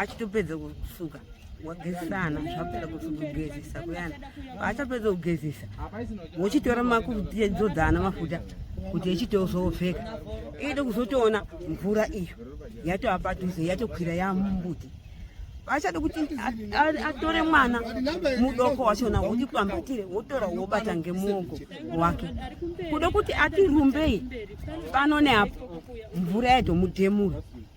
achitopedza kusuka wagezisana zvapera kuti kugezisa kuyana paachapedza kugezisa wochitora makudzodzana mafuta kuti echitozopfeka iide kuzotoona mvura iyo yatova padhuze yatokwira yamumbuti achada kuti atore mwana mudoko wachona wotipambatire wotora wobata ngemuoko wake kuda kuti atirumbei pano neapo mvura yatomudhemura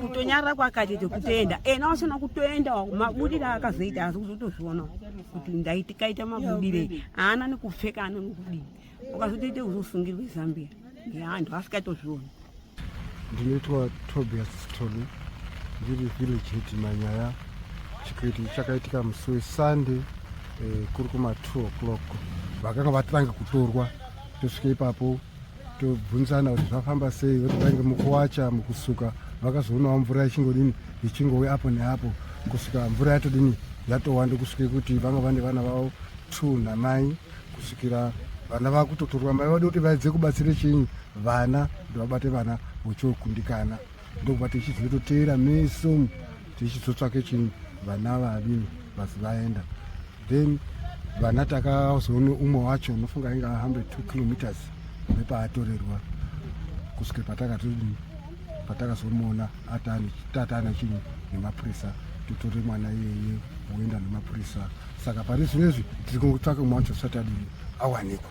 kutonyarara kwakaita kutoenda ena eh, wasina kutoenda mabudire akazoita asi kuzotozviona kuti ndaitikaita mabudire haana nekupfeka ana nekudii ukazotoita kuzosungirwa zambia yeantu asikaitozviona ndinoitwa tobias stolu ndiri village hedi manyaya chikuiti chakaitika musi wesunday eh, kuri kuma 2 o'clock vakanga vatanga kutorwa tosvika ipapo tobvunzana kuti zvafamba sei voti vainge mukuwacha mukusuka vakazoonawo mvura ichingodini ichingove apo neapo kusvika mvura yatodini yatowanda kusvike kuti vanga vane vana vavo two namai kusvikira vana vakutotorwa mai vadi kuti vaedze kubatsire chinyi vana kuti vabate vana vochokundikana ndokuva tichizototeera meso tichizotsvake chinyi vana vadini vasi vaenda then vana takazoona umwe wacho unofunga ainge ahambe two kilometers nepaatorerwa kusvika patakati patakazomuona tatana chinhu nemapurisa totore mwana iyeye woenda nemapurisa saka pari zvinezvi tiri kutsvaka mwacho satadii awanikwa